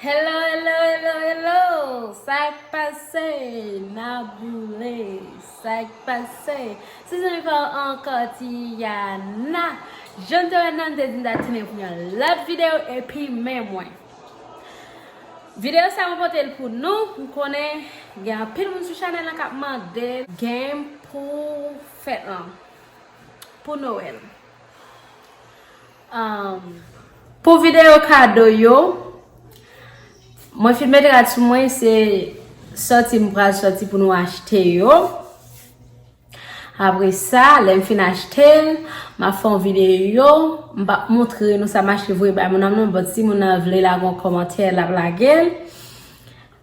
Hello hello hello hello sak pase na boule sak pase se zanmi pa ou ankò Tiana jan te wè nan te di ta tounen pou yon lòt video epi men mwen video sa mwen pote l pou nou m konnen gen anpil moun sou chanel la kap mande game pou fèt lan pou Noël. Pou videyo kado yo, mwen fin met rad sou mwen se sòti m pral sòti pou nou achte yo. Apre sa, lè m fin achte l, m ap fè yon videyo. M pa p montre nou sa m achte vre bay moun nan non, bòt si moun nan vle lage yon kòmantè, l ap lage l.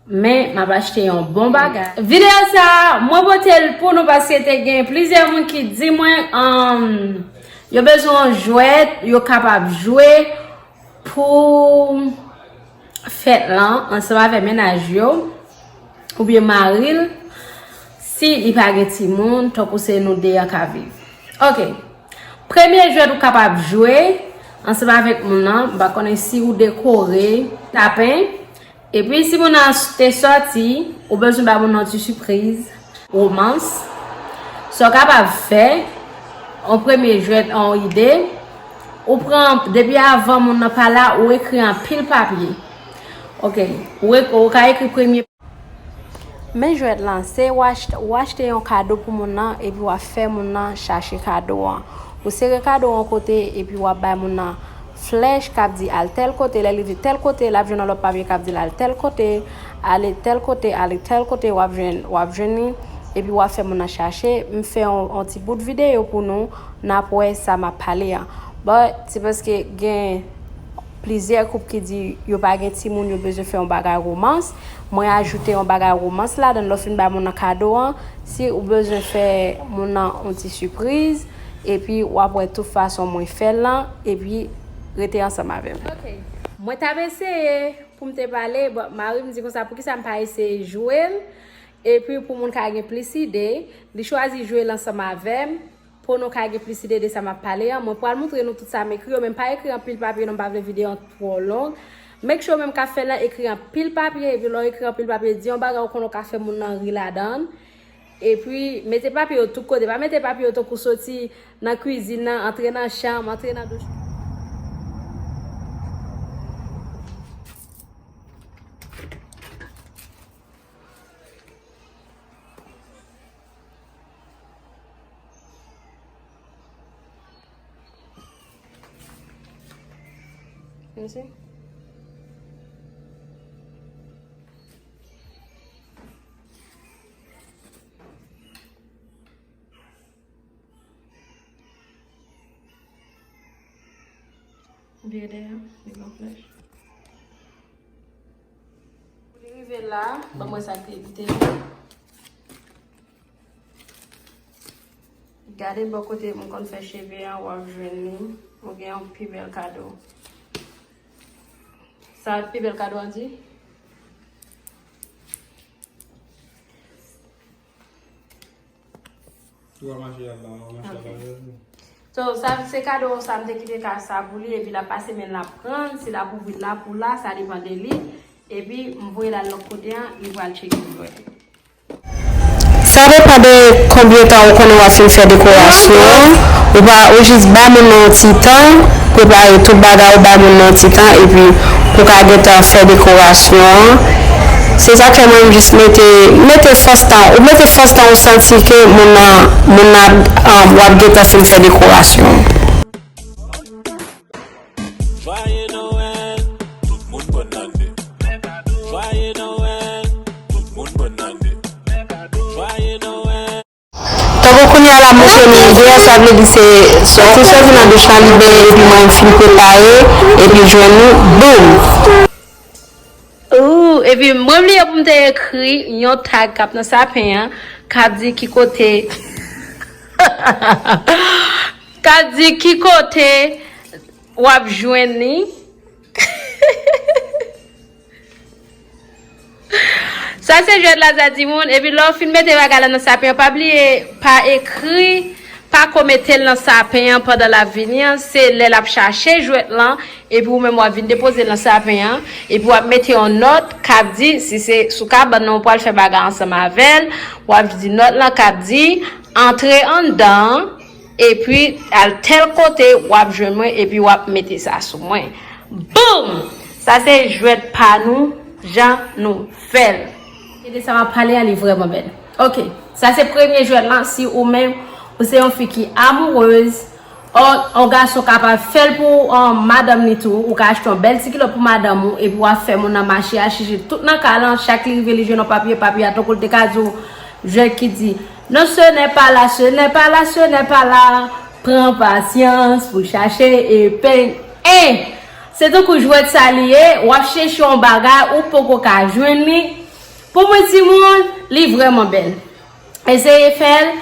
Men, m ap achte yon bon bagay. Videyo sa a, mwen pote l pou nou paske te gen plizyè moun ki di mwen yo bezwen yon jwèt yo kapab jwe pou fèt lan ansanm avèk mennaj yo oubyen mari l si li pa gen timoun tankou se nou 2 an k ap viv. Ok, premye jwèt ou kapab jwe ansanm avèk moun lan, m pa konnen si ou dekore, tapen. Epi si moun nan te sòti, ou bezwen ba moun nan ti sipriz. Romans. Sa w kapab fè, yon premye jwèt, yon ide, ou pran, depi avan moun nan pa la, ou ekri anpil papye. Ok. Ou ka ekri premye. Men jwèt lan, se ou achte yon kado pou moun nan epi w ap fè moun nan chache kado an. Ou sere kado an yon kote epi w ap bay moun nan. Flèch k ap di al tèl kote, lè li di tèl kote, l ap jwenn yon lòt papye k ap di l al tèl kote, ale tèl kote, ale tèl kote, w ap jwenn, w ap jwenn li, epi w ap fè moun nan chache. M fè yon ti bout videyo pou nou, n ap wè sa m ap pale an. But, se paske gen plizyè koup ki di yo pa gen timoun, yo bezwen fè yon bagay romans. Mwen ajoute yon bagay romans ladan l lè w fin bay moun nan kado an. Si ou bezwen fè moun nan yon ti sipriz. epi wap wè tout fason mwen fèl lan epi rete ansanm avèm. Ok Mwen tap eseye poum te pale but marim di konsa poukisa m pa eseye jwel epi pou moun ka gen plis ide li chwazi jwel ansanm avèm po nou ka gen plis ide de sa map pale an mwen pwal moutre nou tout sa m ekri yo men m pa ekri anpil papye non m pa vle video an twò long make sure menm kap fèl lan ekri anpil papye epi lè w ekri anpil papye di yon bagay ou konnen w ka fè moun lan ri ladann. Epi, mete papye yo tout kote. Pa mete papye yo tankou soti nan kwizin nan, antre nan chanm, antre nan douch. Vire dèyè, li gen yon flèch. Pou li rive la, ban mwen sa ki te la. Gade bò kote mwen konn fè cheve an, wap jwenn li. Ou gen yon pi bèl kado. Sa pi bèl kado an di? Ou va mache yap ba ou mache yap ba ou. So sa se kado ou sa mte kite ka sa pou li epi la pase men la pran si la pou vit la pou la sa li pande li epi mvoye la lòk kote an li vwa tcheke pou mwen. Sa depan de konbyen tan ou konnen wap fin fè dekorasyon an, ou pa ou jis ba moun nan yon ti tan, prepare tout bagay ou ba moun nan yon ti tan epi pou ka gentan fè dekorasyon an. Se sak fè mwen m jis mete mete fòs tan ou mete fòs tan ou santi ke moun nan moun nan ap wap gentan fin fè dekorasyon. Tankou kounye a la mwen se lingè, sa vle di se soti soti nan douch lan li benyen epi mwen m fin prepare epi jwenn nou boom. Ooh epi mwen bliye pou m te ekri yon tag kap nan sapin an kap di ki kote kap di ki kote wap jwenn li. Sa se jwèt la za timoun epi lè w fin mete bagay la nan sapen an pa bliye pa ekri pako mete l nan sapen an pandan lap vini an se lè lap chache jwèt lan epi ou menm wap vin depoze l nan sapen an epi wap mete yon nòt kap di si se sou kabann nan ou pwal fè bagay ansanm avèl wap di nòt lan kap di antre anndan Epi al tèl kote wap jwenn mwen epi wap mete sa sou mwen. Boom! Sa se jwèt pa nou jan nou fèl. Se de sa map pale a li vreman bel. Ok sa se premye jwèt lan si ou menm ou se yon fi ki amoureuse or yon gason ka pa fèl pou madanm li tou ou ka achte yon bèl ti kilot pou madanm ou epi wap fè moun nan mache a chije tout nan kay lan chak li rive li jwenn yon papye papye a tankou li te ka di w jwèt ki di Non ce n'est pas là ce n'est pas là ce n'est pas là pran pasyans pou chache epeng eh se tankou jwèt sa li ye wap cheche yon bagay ou poko ka jwenn li pou mwen timoun li vrèman bèl eseye fèl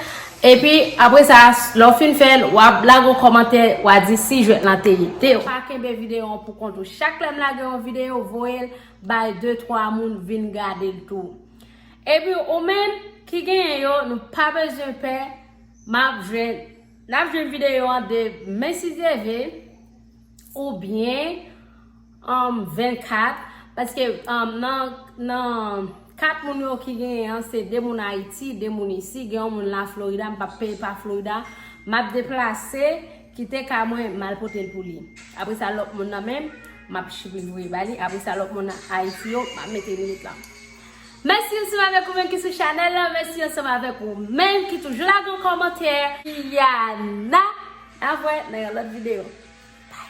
epi apre sa lè w fin fèl wap lage yon kòmantè wa di si jwèt lan te ede w. Pa kenbe videyo an pou kont ou chak lèm lage yon videyo voyel bay de twa moun vin gadel tou. Epi ou menm ki genyen yo nou pa bezwen pè map jwenn nap jwenn videyo an de men si Dye ve ou byen um 24 paske um nan nan 4 moun yo ki genyen an se 2 moun ayiti 2 moun isi gen yon moun la florida m pap peye pa florida map deplase kite ka mwen mal potel pou li apre sa lòt moun nan menm map chipil voye ba li apre sa lòt moun ayiti yo map mete limit la. Mèsi ansanm avèk ou menm ki sou chanèl la, mèsi ansanm avèk ou menm ki toujou lage yon kòmantè. Iyanna Nap wè nan yon lòt video. Bye.